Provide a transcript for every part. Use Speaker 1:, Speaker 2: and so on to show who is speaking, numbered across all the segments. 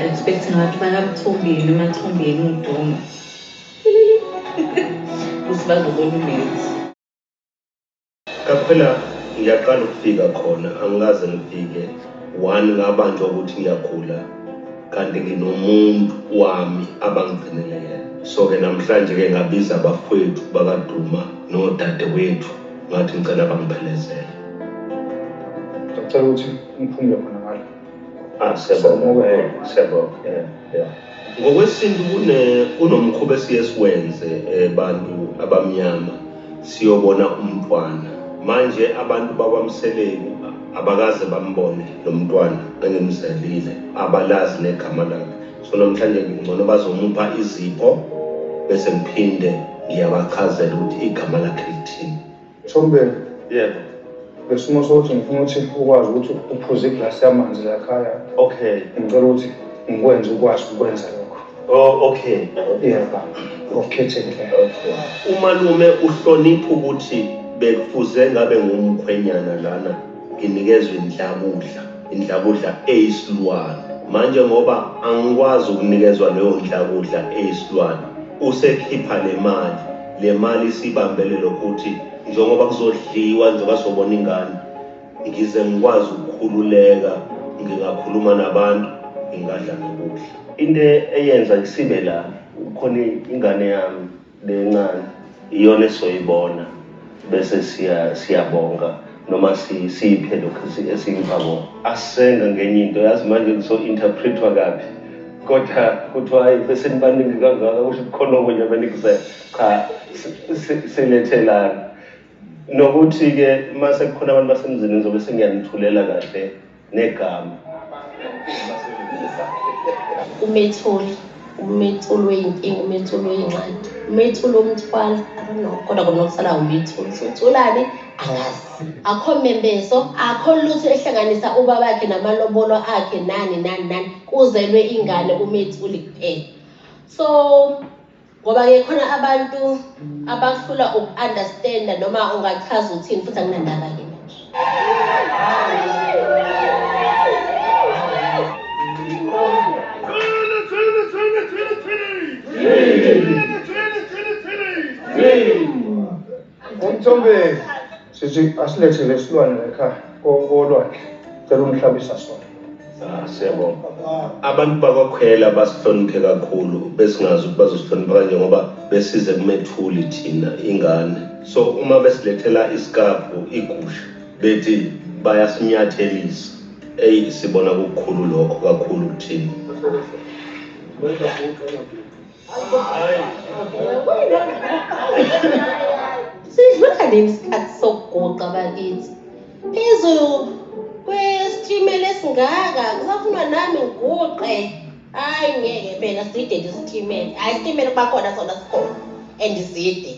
Speaker 1: expect ngathi bakamthombeni emathombeni udonga ukuthi bazobona umenzi
Speaker 2: kaphela ngiyaqala ukufika khona angikaze ngifike one ngabanjwa ukuthi ngiyagula kanti nginomuntu wami abangigcinele yena so-ke namhlanje-ke ngabiza abafowethu bakaduma nodadewethu Ngathi ngicela bangiphelezele. Ngicela
Speaker 3: ukuthi ngiphumule khona ngalo. Ah, siyabonga. Eh,
Speaker 2: siyabonga. Yeah, yeah. Ngokwesintu kune kunomkhuba esiye siwenze abantu eh, abamnyama siyobona umntwana. Manje abantu bakwamseleku abakaze bambone lo mntwana engemzalile abalazi negama lakhe so namhlanje ngingcono bazomupha izipho bese ngiphinde ngiyabachazela ukuthi igama lakhe lithini Chombeni
Speaker 3: yebo
Speaker 2: lesimo
Speaker 3: sokuthi ngifuna ukuthi ukwazi ukuthi uphuze iglasi yamanzi lakhaya okay ngicela
Speaker 2: ukuthi
Speaker 3: ngikwenze ukwazi ukwenza lokho oh okay
Speaker 2: yebo
Speaker 3: ngokukhethekile
Speaker 2: umalume uhlonipha ukuthi bekufuze ngabe ngumkhwenyana lana Nginikezwe inhlakudla, inhlakudla eyisilwane. Manje ngoba angikwazi ukunikezwa leyo nhlakudla eyisilwane, usekhipha le mali. Le mali isibambele lokhu ukuthi njengoba kuzodliwa, njengoba sizobona ingane, ngize ngikwazi ukukhululeka, ngingakhuluma nabantu, ngingadla nokudla. Into eyenza ngisibe la, kukhona ingane yami. lencane iyona esizoyibona bese siya siyabonga noma siyiphe lokhu esiyipha bona asenga ngenye into yazi manje kuso-interpretwa kabi kodwa kuthiwa hayi besenibaningi kangaka kusho kukhona okunye benikuzela cha silethelana nokuthi-ke uma sekukhona abantu basemzini ngizobe sengiyanithulela kahle negama
Speaker 4: umethuli umethuli weyinkinga umethuli weyingxaki umethuli omthwala adono kodwa kona kusala umethuli sothulane angazi akho mmembeso akho lutho ehlanganisa ubabakhe namalobolo akhe nani nani nani kuzelwe ingane umethuli kuphela so Ngoba-ke khona abantu abahlula uku-understanda noma ungachaza uthini futhi anginandaba-ke manje.
Speaker 3: Three. Umthombeni. Sisi asilethe lesilwane lekhaya kolwandle. Cela ungihlabisa sona. Ah, siyabonga.
Speaker 2: Abantu bakwakhwela basihloniphe kakhulu besingazi ukuthi bazosihlonipha kanje ngoba besize kumethuli thina ingane. So uma besilethela isikabhu igusha bethi bayasinyathelisa. Eyi sibona kukukhulu lokho kakhulu kuthina.
Speaker 4: sidlula nini isikhathi sokuguqa bakithi phezu kwesitimela esingaka kusafunwa nami ngiguqe hayi ngeke phela side lesitimela hayi isitimela kuba khona sona sikhona and side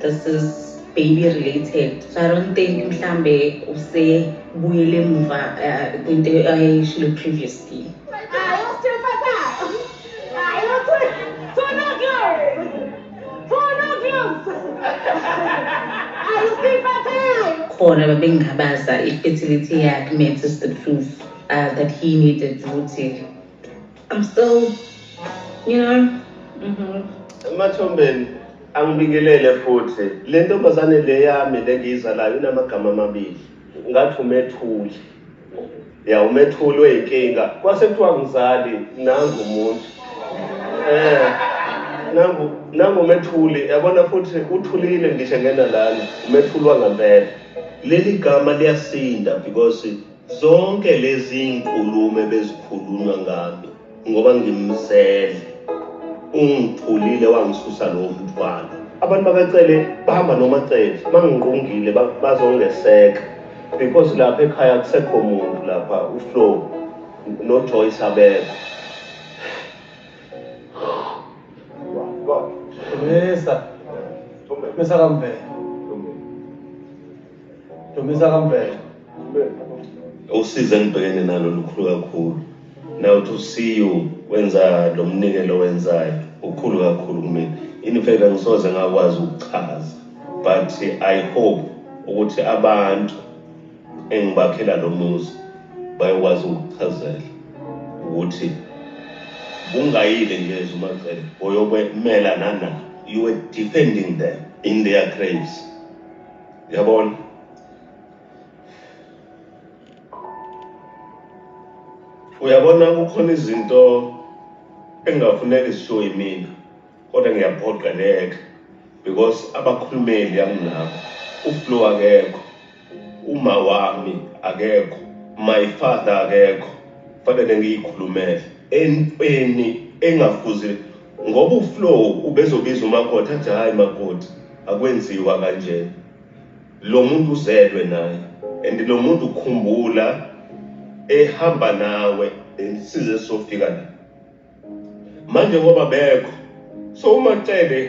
Speaker 1: This is baby related. So I don't think mhlambe usebuyele emuva uh, kwinto ayishilo uh, previously. khona babengabaza i-fertility yakhe meant is the proof uh, that he needed ukuthi I'm still, you
Speaker 2: know. Mm -hmm. Emathombeni angibingelele futhi le ntombazane le yami le ngiyizalayo inamagama amabili ngathi umethuli ya umethuli weyinkinga kwase kuthiwa ngizali nangu umuntu eh nangu nangu umethuli yabona futhi uthulile ngisho ngena lana umethuli wangempela leli gama liyasinda because Zonke lezi inkulumo ebezikhulunywa ngami ngoba ngimzele ungithulile wangisusa lowo mthwalo. Abantu bakaCele bahamba nomaCele bangingqungile bazongeseka because lapha ekhaya kusekho muntu lapha uFlow noJoyce abekho. Dumisa. Dumisa
Speaker 3: kamvela. Dumisa kamvela.
Speaker 2: usize engibhekene nalo lukhulu kakhulu now to see you wenza lo mnikelo wenzayo ukhulu kakhulu kumina in fact angisoze ngakwazi ukuchaza but i hope ukuthi abantu engibakhela lo muzi bayokwazi ukuchazela ukuthi kungayile nje ezumacele oyokwemela nana you were defending them in their graves yabona uyabona kukhona izinto engingafuneki zishiwo yimina kodwa ngiyaphoqa leke because abakhulumeli anginabo uflo akekho uma wami akekho my father akekho fanele ngiyikhulumele entweni engafuzi ngoba uflow ubezobiza umakoti athi hhayi makoti akwenziwa kanjena Lomuntu uzelwe naye and lomuntu khumbula ehamba nawe size sofika la manje ngoba bekho so uma cele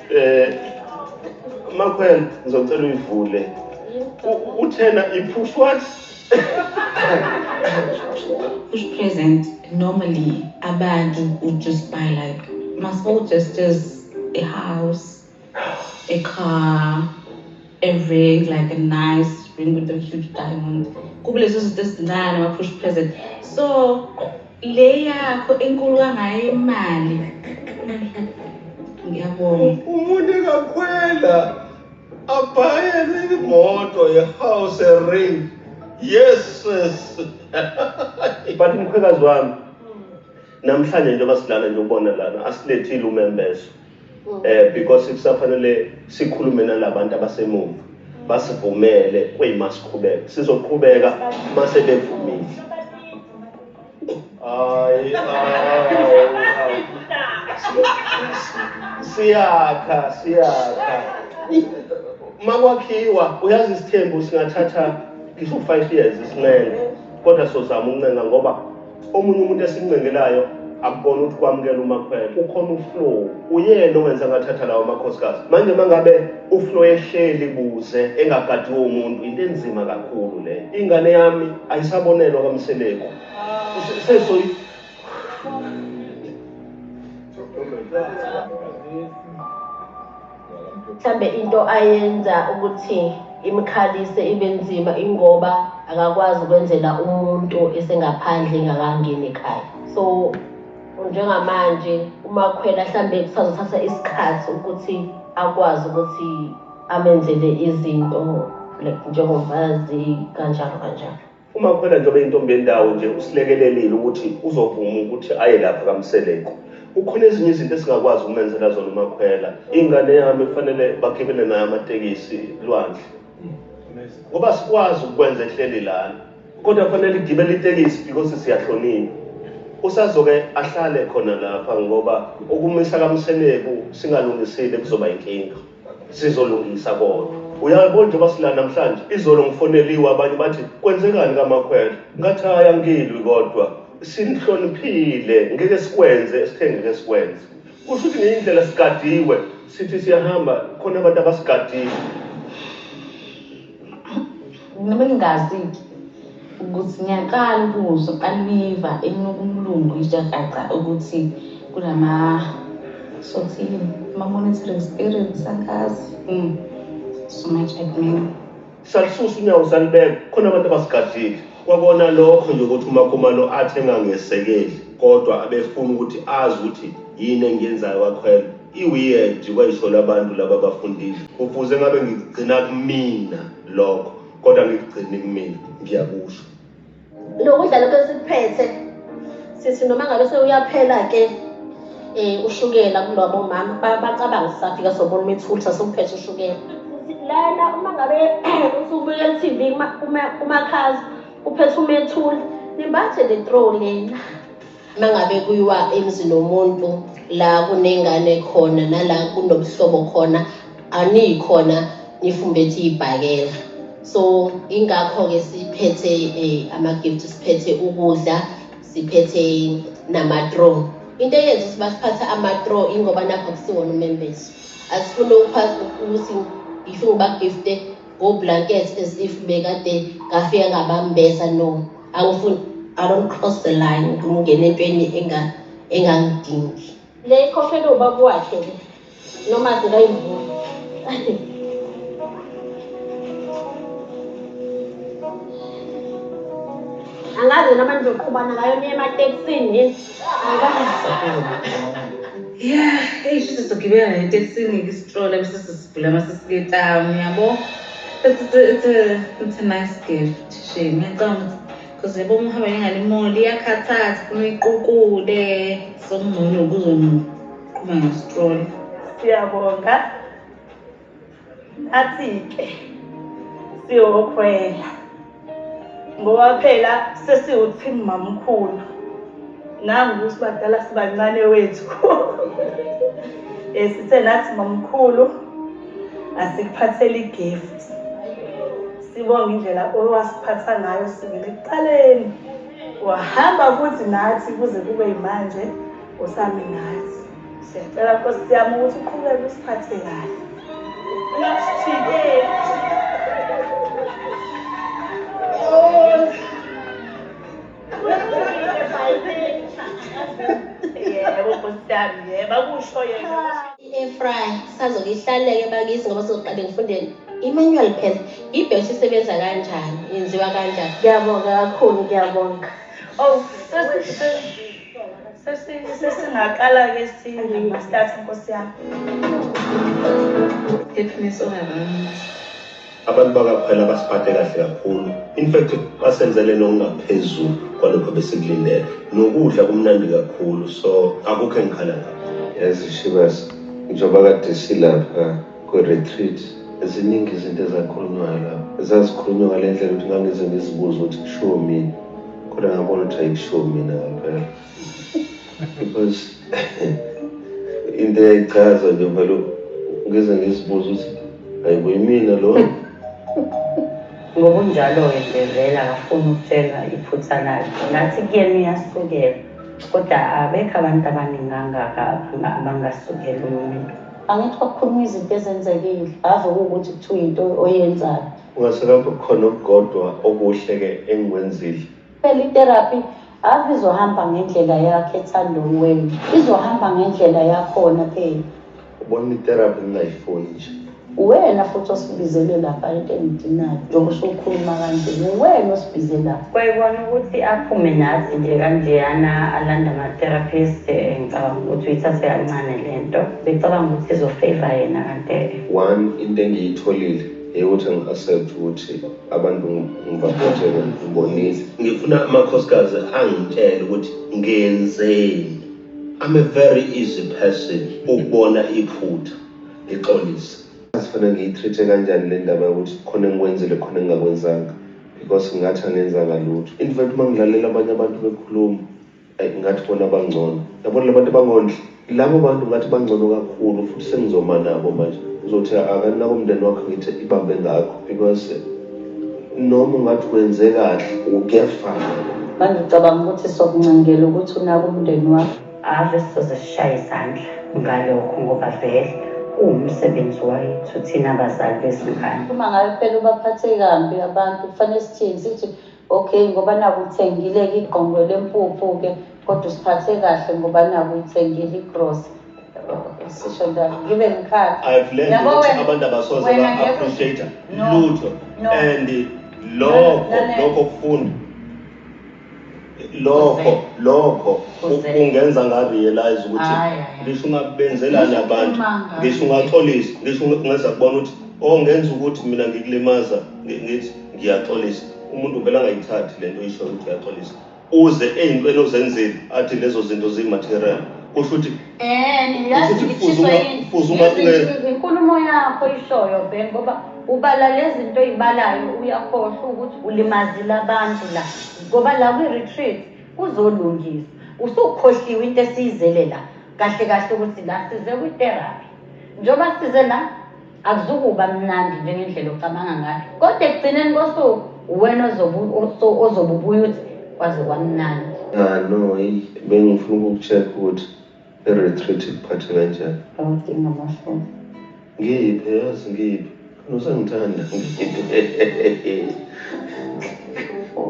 Speaker 2: eh makhwela ngizocela uyivule uthena iphuph what
Speaker 1: push present normally abantu would just buy like masbo gestures a house a car a ring like a nice ring with a huge diamond kubulezo zinto ezincane ama push present so Le yakho enkulu kangayo imali. Ngiyabonga. Umuntu
Speaker 2: engakhwela abhayele imoto yehouse ring. Yes sis. But mkhwekazi wami namhlanje njengoba silana nje ubona lana asilethile umembeso. mm. eh because kusafanele sikhulume nalabantu abasemuva basivumele kuyima siqhubeka sizoqhubeka mase bevumile hayi siyakha siyakha makwakhiwa uyazi isithembu singathatha ngisho 5 years isinqele kodwa sozama uncenga ngoba Omunye umuntu esincengelayo akubona ukuthi kwamukela umakhwela ukhona uflow uyena owenza ngathatha lawo makhosikazi manje uma ngabe uflow ehleli kuze engagadiwe umuntu into enzima kakhulu le ingane yami ayisabonelwa kamseleku sesoyi
Speaker 4: mhlambe into ayenza ukuthi imkhalise ibe nzima ingoba akakwazi ukwenzela umuntu esengaphandle engakangeni ekhaya so njengamanje umakhwela mhlambe kusazothatha isikhathi ukuthi akwazi ukuthi amenzele izinto like njengomfazi kanjalo kanjalo Uma kuphela
Speaker 2: njengoba intombi yendawo nje usilekelelile ukuthi uzovuma ukuthi aye lapha kaMseleku. Kukhona ezinye izinto esingakwazi ukumenzela zona uMakhwela. Ingane yami kufanele bagibele nayo amatekisi lwandle. Ngoba sikwazi ukwenza ehleli lana. Kodwa kufanele igibele itekisi because siyahlonipha. Usazoke ahlale khona lapha ngoba ukumisa kaMseleku singalungisile kuzoba inkinga. sizolungisa kodwa uyabo njengoba sila namhlanje izolo ngifoneliwe abanye bathi kwenzekani kamakhwela ngathi hayi angilwi kodwa sinihloniphile ngeke sikwenze esithe ngeke sikwenze kusho ukuthi ngeyindlela sigadiwe sithi siyahamba khona abantu abasigadiwe
Speaker 1: Noma ningazike ukuthi ngiyaqala ukuzwa aliva enuka umlungu ijahaqa ukuthi kunama sothini ama-monitoring spirit sangazi mm. so much admin salisusa
Speaker 2: unyawo salibeka khona abantu abasigadlile kwakona lokho nje ukuthi umakhumalo athi engangesekeli kodwa abefuna ukuthi azi ukuthi yini engiyenzayo kakhwela I weird kwayisolo abantu laba bafundile kufuze ngabe ngikugcina kumina lokho kodwa ngikugcini kumina ngiyakusho nokudla
Speaker 4: lokho esikuphethe sithi noma ngabe sewuyaphela ke um ushukela kulobo mama bacabanga sisafika sobona uma ethulisa sokuphethe ushukela lana uma ngabe usubuya e-tv umakhazi uphethe umethuli nimbathe le tro lena mangabe kuyiwa emzini womuntu la kunengane khona nala kunobuhlobo khona aniyikhona nifumbethe ibhakela so ingakho-ke siphethe um ama-gift siphethe ukudla siphethe namatron into eyenza ukuthi basiphatha amatro ingoba nakho kusiwona umembezo asifune ukuthi ngifike ubagifte ngoblankets as if bekade ngafika ngabambeza no awufuni i don't cross the line ukuthi ungene entweni engangidingi le ikhohlelwe ubaba wakhe le noma zikayivula angazi noma nizoqhubana ngayo niye ematekisini yini
Speaker 1: yeah eyi shuthi sizogibela netekisini isitrola bese sesivula amasesiketam yabo it's, it's, it's, a, it's a nice gift Shame, ngiyacabanga because yabo uma uhamba nengane imoli iyakhathaza funa uyiqukule sokungcono ukuzoqhuma ngestrol siyabonga
Speaker 5: nathi-ke siyokhwela ngoba phela sesiwuthimu mamkhulu nangu sibadala sibancane wethu um sithe nathi mamkhulu asikuphathele igift Sibonga indlela owasiphatha ngayo sibili kuqaleni. Wahamba futhi nathi kuze kube yimanje usami nathi. Siyacela Nkosi yami ukuthi uqhubeke usiphathe kahle. Ungasijikeli. Oh.
Speaker 4: yebo nkosi yami yebo akusho yena i-airfry sazokihlaleke bakithi ngoba soqale ngifundeni i-manual pen ibheshi isebenza kanjani yenziwa kanjani ngiyabonga kakhulu
Speaker 5: ngiyabonga oh sesingaqala-ke sinamastatha
Speaker 1: nkosi yami Abantu
Speaker 2: bakaKhwela basiphathe kahle kakhulu. In fact basenzele nokungaphezulu kwalokho besikulindele. Nokudla kumnandi kakhulu so akukho engikhala ngakho. Yazi Shivas,
Speaker 6: njengoba kade silapha kwe-retreat ziningi izinto ezakhulunywayo lapho zazikhulunywa ngale ndlela ukuthi ngangize ngizibuze ukuthi kushiwo mina kodwa ngabona ukuthi ayikushiwo mina ngampela Because into eyayichaza nje vele ngeze ngizibuza ukuthi hayibo yimina lo ngokunjalo-ke
Speaker 7: nje vele akafuni ukutshela iphutha lakhe ngathi kuyena uyasukela kodwa abekho abantu abaningi angaka abangasukela umuntu angithi kwakukhuluma izinto ezenzekile ave kuwukuthi kuthiwa into oyenzayo ungaselapho khona
Speaker 2: okukodwa okuhle-ke engikwenzile Phela itherapy
Speaker 7: ave izohamba ngendlela yakhe ethandweni wenu izohamba ngendlela yakhona phela ubona itherapy
Speaker 2: ngingayifuni nje uwena futhi
Speaker 7: osibizele lapha into engidinayo njengoba usukhuluma kanje uwena osibize lapha kwayibona ukuthi aphume nathi nje kanjeyana alanda ama-therapist eh, ngicabanga ukuthi uyithathe kancane le nto becabanga ukuthi izofeva yena kantele one into
Speaker 6: engiyitholile eyokuthi ngi-accept ukuthi abantu ngibaphothele ngibonise ngifuna
Speaker 2: amakhosikazi angitshele ukuthi ngenzeni I'm a very easy person ukubona iphutha ngixolise asifana
Speaker 6: ngiyitreat-e kanjani le ndaba yokuthi khona engikwenzile khona engingakwenzanga because ngathi angenzanga lutho in fact uma ngilalela abanye abantu bekhuluma Ay ngathi bona bangcono. Yabona labantu abangondli. Labo bantu ngathi bangcono kakhulu futhi sengizoma nabo manje. Uzothi akanako umndeni wakho ngithe ibambe ngakho because noma ungathi wenze kahle ukuyafana. Bangicabanga
Speaker 7: ukuthi sokuncengela ukuthi unaka umndeni wakho. Ave sizoze sishaye izandla ngalokho ngoba vele uwumsebenzi wethu thina bazali bezingane. Uma ngabe phela ubaphathe kambi abantu kufanele sithini sithi Ok ngoba naku uthengile ke igqongo lempuphu ke kodwa usiphathe kahle ngoba naku uyithengile igross sisho njalo ngibe ngikhala I've learned Yabo ukuthi wena-
Speaker 2: abantu abasoze
Speaker 7: wena
Speaker 2: ba
Speaker 7: ngeke-
Speaker 2: appreciate
Speaker 7: No.
Speaker 2: lutho
Speaker 7: No. and
Speaker 2: lokho
Speaker 7: Nane- lokho kufunda
Speaker 2: lokho Kuze. lokho Kuze. ku- kungenza
Speaker 7: nga realize ukuthi
Speaker 2: Hayi, hayi, hayi. ngisho
Speaker 7: ungabenzelani
Speaker 2: Ngisho abantu ukhuluma ngayo. ngisho ungaxolisa ngisho
Speaker 7: ungenza
Speaker 2: kubona ukuthi oh ngenza ukuthi mina ngikulimaza ngi- ngithi Ngiyaxolisa. Umuntu vele angayithathi lento oyishoyo ukuthi uyaxolisa. Uze eyintweni ozenzile athi lezo zinto ziyi material. Kusho ukuthi Eh, mina uyazi Usuthi ngithiswa kufuze unga-
Speaker 7: yini? kufuze unga- Ngezi- nge-
Speaker 2: Inkulumo yakho
Speaker 7: ishoyo Ben ngoba ubala lezinto oyibalayo uyakhohlwa ukuthi ulimazile abantu la. Ngoba la kwi retreat kuzolungiswa. Usukhohliwe into esiyizele la. Kahle kahle ukuthi la size kwi therapy. Njengoba size la Akuzukuba mnandi njengendlela ocabanga ngayo, kodwa ekugcineni kosuku uwena ozobe ubuye uthi kwaze kwamnandi. Ya no, eyi
Speaker 6: bengifuna ukuku-check ukuthi i-retreat ikuphathe kanjani. Awudingi
Speaker 7: amafoni. Ngiphe
Speaker 6: yazi ngiphe. Kanti usangithanda ngiphe.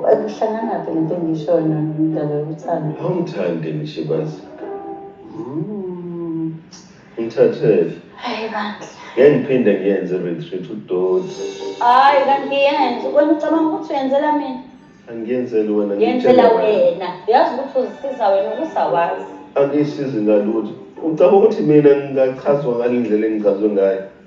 Speaker 7: Akuhlanganaphi lento engishoyo nomdlalo yokuthanda. Awungithandi
Speaker 6: ngishibazi. Mm. Ngithathele. Hayi bandla.
Speaker 7: Ngeke ngiphinde
Speaker 6: ngiyenze retreat udoti. Hayi kanti
Speaker 7: ngiyenze. Wena ucabanga ukuthi uyenzela mina? Angiyenzeli
Speaker 6: wena ngiyenzela wena.
Speaker 7: Uyazi ukuthi uzisiza wena ukusawazi. Angisizi
Speaker 6: ngalutho. Ucabanga ukuthi mina ngingachazwa ngale ndlela engichazwe ngayo?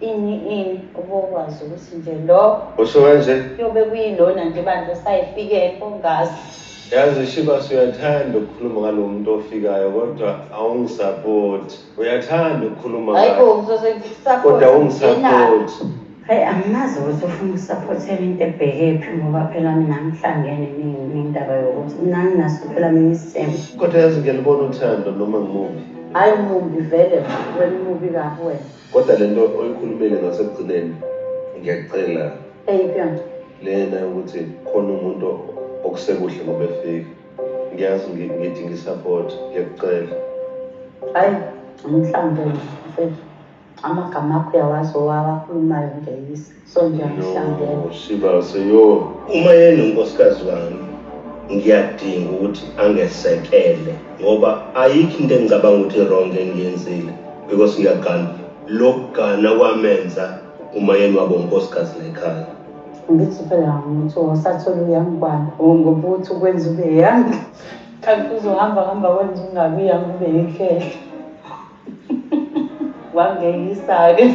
Speaker 7: Ini ini ubokwazi ukuthi nje lo Usho kanje? kuyobe
Speaker 6: kuyilona
Speaker 7: nje bandla osayifikepho ngazi. Yazi
Speaker 6: Shibas uyathanda ukukhuluma ngalo muntu ofikayo kodwa awungisapoti. Uyathanda ukukhuluma Hayi
Speaker 7: bo ngaye ngizose ngikusaphote. kodwa
Speaker 6: Ngenalo. awungisapoti. Hhayi
Speaker 7: angimazi ukuthi ufuna ukusaphothela into ebhekephi ngoba phela mina angihlangene ni- nendaba yokuthi mina anginaso phela mina isimo. Kodwa yazi ngiyalibona
Speaker 6: uthando noma ngimuphi. Hayi mumbi
Speaker 7: vele wena umubi kabi wena. Kodwa lento
Speaker 6: oyikhulumile ngasekugcineni ngiyacela.
Speaker 7: Eyiphi yona? Lena ukuthi
Speaker 6: khona umuntu okusekuhle ngoba efika. Ngiyazi ngithi ngisupport ngiyacela. Hayi
Speaker 7: umhlambe mfethu amagama akho uyawazi owawakhulumayo ngiyayisa. No, sibase yo.
Speaker 6: Uma yena
Speaker 2: unkosikazi wami ngiyadinga ukuthi angesekele ngoba ayikho into engicabanga ukuthi wrong engiyenzile because ngiyagana lokugana kwamenza uma yena wabo unkosikazi lekhaya ngithi phela
Speaker 7: ngithi wasathola uyangibana ngokuthi ukwenza ube yangi kanti uzohamba hamba wenza ungabi yangi ube yinhlehla wangeyisa-ke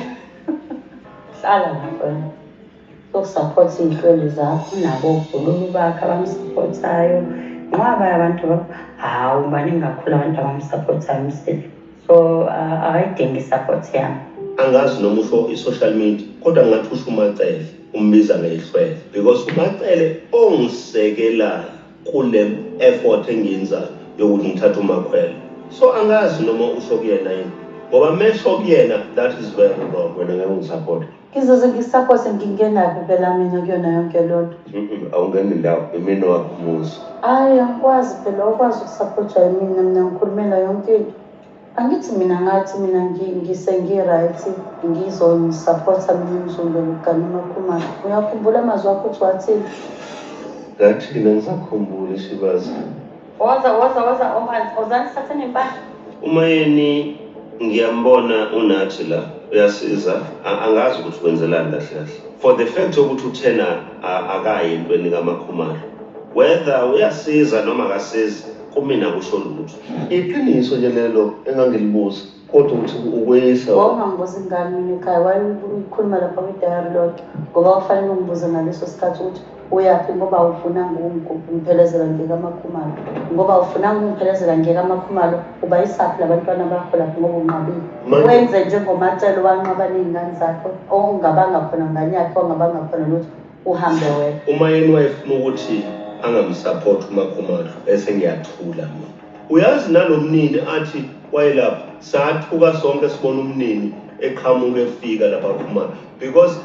Speaker 7: hlala ngafana sokusaphotha iy'hlweli zakho nabo oguluka ubakhe abamsaphothayo nqwaba yabantu hawu ubani engakhula abantu abamsaphothayo umsile so akayidingi i-support yami angazi noma usho
Speaker 2: i-social media kodwa ngingathi usho umacele umbiza ngehlwele because umacele ongisekelayo kule effort engiyenzayo yokuthi ngithathe umakhwela so angazi noma usho kuyena yini ngoba mesho kuyena that is very wrong wena ngeke ungisapota
Speaker 6: ngizoze ngisapothe
Speaker 7: ngingenaphi phela mina kuyona yonke lonto Mm-mm, awungeni ndawo
Speaker 6: imini wakho umuzi hhayi angikwazi
Speaker 7: phela ukwazi ukusapotha yimina mina ngikhulumela yonke into Angithi mina ngathi mina ngise ngi-right ngizomsapotha mina umzumbe ngigane umakhumalo uyakhumbula amazwi akho ukuthi wathini ngathi
Speaker 6: mina ngisakhumbule shibazi woza woza woza ohansi oh, ozani
Speaker 7: sithathe nempahla umayeni
Speaker 2: ngiyambona unathi la uyasiza angazi ukuthi wenzelani kahle kahle for the fact yokuthi uthena akayi entweni kamakhumalo whether uyasiza noma akasizi kumina kusho lutho Iqiniso nje
Speaker 6: lelo engangilibuza kodwa ukuthi ukweyisa Wawungambuza ingane
Speaker 7: mina ekhaya wayekhuluma lapha kwidayari lodwa ngoba kufanele ungibuze ngaleso sikhathi ukuthi uyaphi ngoba awufunanga ukungiphelezela ngeke amakhumalo ngoba awufunanga ukungiphelezela ngeke amakhumalo ubayisaphi labantwana bakho lapho ngoba unqabile Manje- wenze njengomacelo wanqaba ney'ngane zakho ongabanga khona ngane yakhe ongabanga khona lutho uhambe wedwa. Umayeni wayefuna
Speaker 2: ukuthi angamsupport uMakhomadlu bese ngiyathula mina. Uyazi nalomnini athi wayelapha sathuka sonke sibona umnini eqhamuka efika lapha kuMa because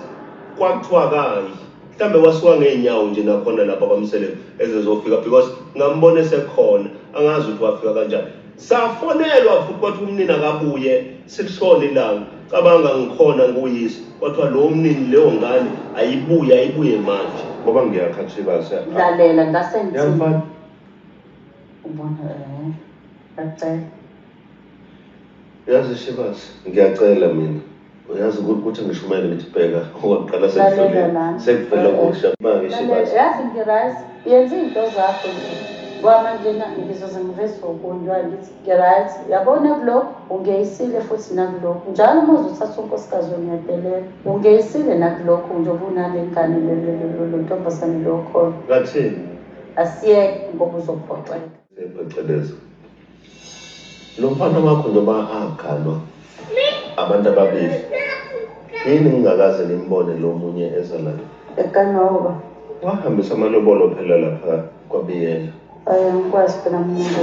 Speaker 2: kwakuthiwa kayi mhlambe wasuka ngeenyawo nje nakhona lapha kwaMseleku ezezofika because ngambona esekhona angazi ukuthi wafika kanjani Safonelwa futhi kwathiwa umnini akabuye silishona ilanga. Cabanga ngikhona nguyise kwathiwa lowo mnini leyo ngane ayibuye ayibuye manje. Ngoba ngiyakhathiba
Speaker 6: se. Lalela ngase
Speaker 7: ngithi. Yamfana. Ubona eh. Bacela.
Speaker 6: Yazi Shebasi ngiyacela mina. Uyazi
Speaker 7: ukuthi
Speaker 6: ukuthi ngishumele
Speaker 7: ngithi bheka owaqala sekuvele sekuvele okusha manje shibazi. Yazi ngirise yenza izinto zakho nje. Kwama nje ngizoze ngiveze okunye ngithi ngirise yabona kulokhu ungeyisile futhi nakulokhu njalo uma uzothatha unkosikazi ongedelela ungeyisile nakulokhu nje obunale ngane lo ntombazane lo khona. Ngathini?
Speaker 6: Asiyeke
Speaker 7: ngoba uzophoxeka. Phecelezi.
Speaker 6: Lo mfana wakho noma aganwa abantu ababili. Yini ngingakaze ngimbone lo munye eza la. Ekanoba.
Speaker 7: Wahambisa
Speaker 6: amalobolo phela lapha kwabiyela. Ayangikwazi
Speaker 7: phela mina.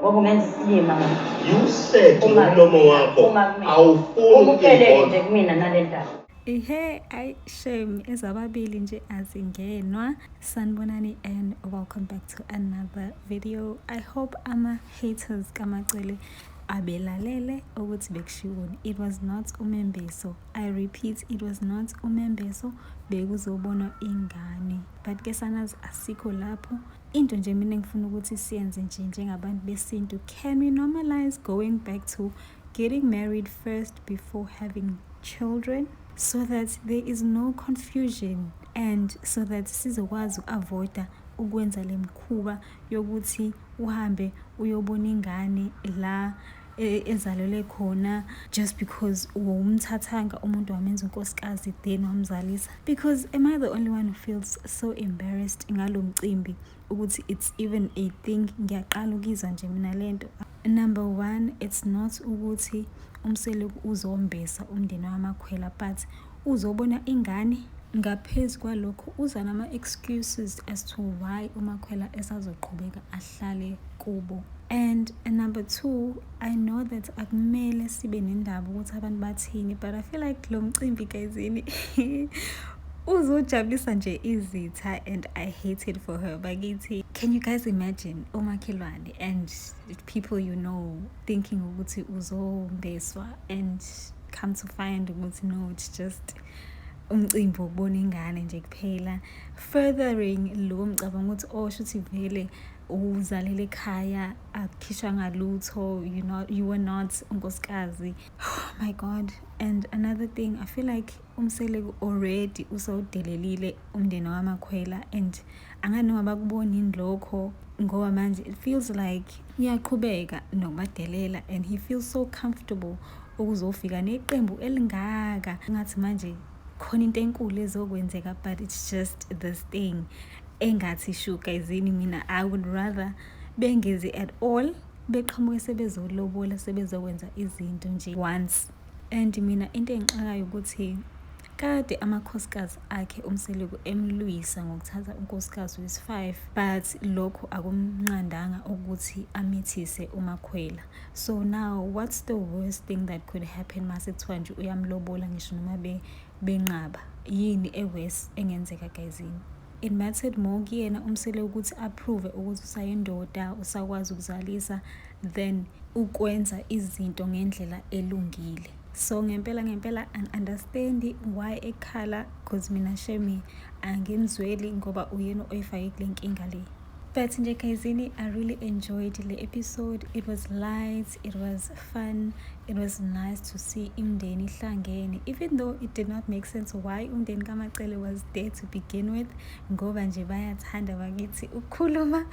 Speaker 7: Ngokungenza isilima
Speaker 2: manje. Yiwusethe Uma- umlomo wakho uma kumina. awufuni Umukeleke ukuyibona. nje
Speaker 7: kumina nale ndaba. Ihe, ay
Speaker 8: shame ezababili nje azingenwa. Sanibonani and welcome back to another video. I hope ama haters kaMacele abelalele ukuthi bekushiwoni. It was not umembeso. I repeat, it was not umembeso. Bekuzobonwa ingane. but ke sanazi asikho lapho into nje mina ngifuna ukuthi siyenze nje njengabantu besintu can we normalize going back to getting married first before having children so that there is no confusion and so that sizokwazi uku-avoida ukwenza le mkhuba yokuthi uhambe uyobona ingane la e, ezalelwe khona just because wawumthathanga umuntu wamenza unkosikazi then wamzalisa because am i the only one who feels so embarrassed ngalo mcimbi ukuthi it's even a thing ngiyaqala ukizwa nje mina le nto number one it's not ukuthi umseleku uzombesa umndeni wamakhwela but uzobona ingane ngaphezu kwalokho uza nama-excuses as to why umakhwela esazoqhubeka ahle hlale kubo and number two i know that akumele sibe nendaba ukuthi abantu bathini but i feel like lo mcimbi gayizini uzojabulisa nje izitha and i hate it for her bakithi can you guys imagine omakhelwane and people you know thinking ukuthi uzombeswa and come to find ukuthi no it's just umcimbi wokubona ingane nje kuphela furthering lo mcabango ukuthi oh shuthi vele uzalele ekhaya akukhishwa ngalutho you not you were not unkosikazi oh my god and another thing i feel like umseleku already usawudelelile umndeni wamakhwela and angani noma bakuboni yini lokho ngoba manje it feels like uyaqhubeka nokubadelela and he feels so comfortable ukuzofika neqembu elingaka ngathi manje khona into enkulu ezokwenzeka but it's just this thing engathi shuka izini mina i would rather bengezi at all beqhamuke sebezolobula sebezokwenza izinto nje once and mina into engixakayo ukuthi kade amakhosikazi akhe umseleku emlwisa ngokuthatha unkosikazi wesi-five but lokho akumnqandanga ukuthi amithise umakhwela so now what's the worst thing that could happen mase kuthiwa nje uyamlobola ngisho noma benqaba yini e-worse engenzeka gayizini It mattered more kuyena umsele ukuthi approve ukuthi usayindoda usakwazi ukuzalisa than ukwenza izinto ngendlela elungile so ngempela ngempela angi-understand why ekhala because mina shemi angimzweli ngoba uyena oyifake kule nkinga le But nje guysini I really enjoyed le episode it was light it was fun it was nice to see imndeni ihlangene even though it did not make sense why umndeni kamacele was there to begin with ngoba nje bayathanda bakithi ukukhuluma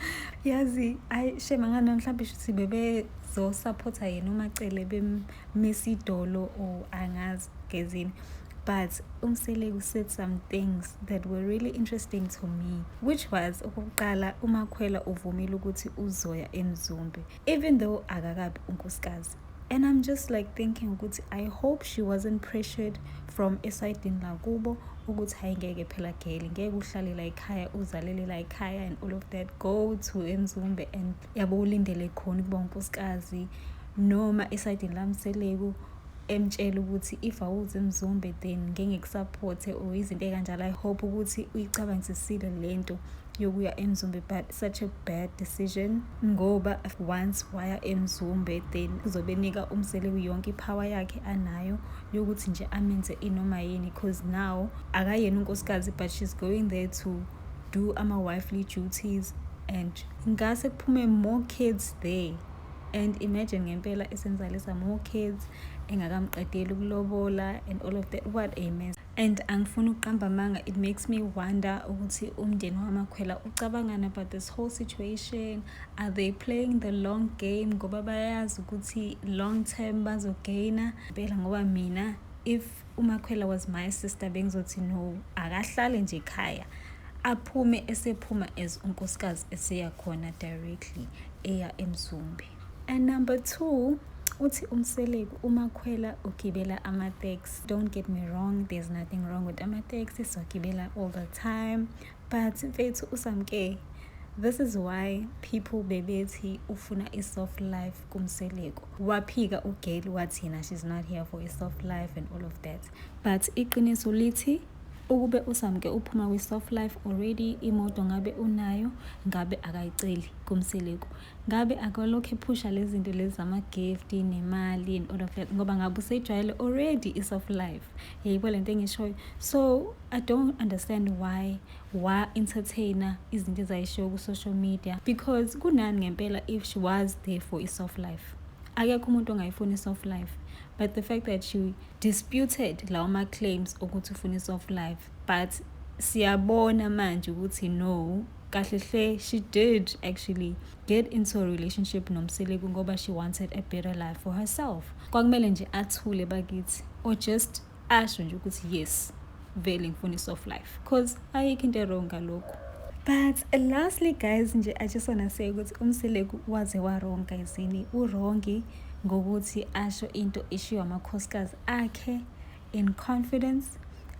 Speaker 8: yazi ayi shema ngano mhlawumbe shuthi bebezosaphotha yena umacele bemmisa idolo or angazi gezini but umsele u said some things that were really interesting to me which was okokuqala umakhwela uvumile ukuthi uzoya emzumbe even though akakabi unkosikazi and i'm just like thinking ukuthi i hope she wasn't pressured from esayidini lakubo ukuthi hayi ngeke phela geli ngeke uhlalela ekhaya uzalelela ekhaya and all of that go to emzumbe and yabo ulindele khona ukuba unkosikazi noma esayidini lamseleku emtshela ukuthi if awuzi mzumbe then ngengikusapothe or izinto ey'kanjalo i hope ukuthi uyicabangisisile le nto yokuya emzumbe but such a bad decision ngoba once waya emzumbe then uzobe nika umseleku yonke iphawa yakhe anayo yokuthi nje amenze inoma yini because now akayena unkosikazi but she's going there to do ama-wifely duties and ngase kuphume more kids there and imagine ngempela esenzalisa more kids engakamqedeli ukulobola and all of that what a mess and angifuni ukuqamba amanga it makes me wonder ukuthi umndeni wamakhwela ucabangani about this whole situation are they playing the long game ngoba bayazi ukuthi long term bazogaina phela ngoba mina if umakhwela was my sister bengizothi no akahlale nje ekhaya aphume esephuma as unkosikazi eseya khona directly eya emzumbi and number two uthi umseleku umakhwela ugibela ama-tax don't get me wrong there's nothing wrong with ama-tax sizogibela all the time but mfethu usamke this is why people bebethi ufuna i-soft life kumseleku waphika ugeli wathina she's not here for a soft life and all of that but iqiniso lithi ukube usamke uphuma kwi-soft life already imoto ngabe unayo ngabe akayiceli kumseleku ngabe akalokhu ephusha lezi zinto lezi zama-gift nemali and all of that ngoba ngabe usejwayele already i-soft life yeyibo le nto engishoyo so i don't understand why wa entertainer izinto ezayishiwo ku social media because kunani ngempela if she was there for i soft life akekho umuntu ongayifuni soft life but the fact that she disputed lawo ma claims ukuthi ufuna soft life but siyabona manje ukuthi no kahle hle she did actually get into a relationship nomseleku ngoba she wanted a better life for herself kwakumele nje athule bakithi or just asho nje ukuthi yes vele ngifuna i-soft life cause ayikho into erong ngalokhu but lastly guys nje i just wanna say ukuthi umseleku waze warong guyzini urongi ngokuthi asho into eshiwo amakhosikazi akhe in confidence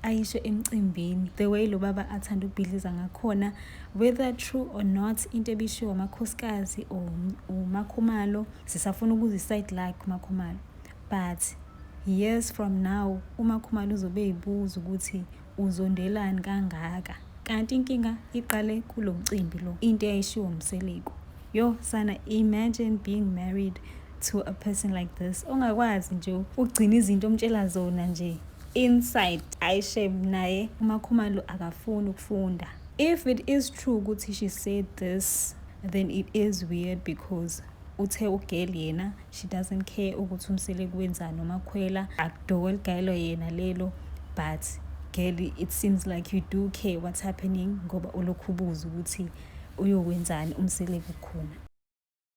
Speaker 8: ayisho emcimbini the way lo baba athanda ukubhidliza ngakhona whether true or not into ebishiwo amakhosikazi or umakhumalo sisafuna ukuziside like umakhumalo But years from now uma Khumalo uzobe eyibuza ukuthi uzondelani kangaka kanti inkinga iqale kulo mcimbi lo into eyayishiwo mseleku yo sana imagine being married to a person like this ongakwazi nje ukugcina izinto omtshela zona nje inside ayishem naye umakhumalo akafuni ukufunda if it is true ukuthi she said this then it is weird because uthe ugel yena she doesn't care ukuthi umsele kwenzani umakhwela akudoko eligayelwa yena lelo but girl it seems like you do care what's happening ngoba ulokhu ubuza ukuthi uyokwenzani umsele kukhona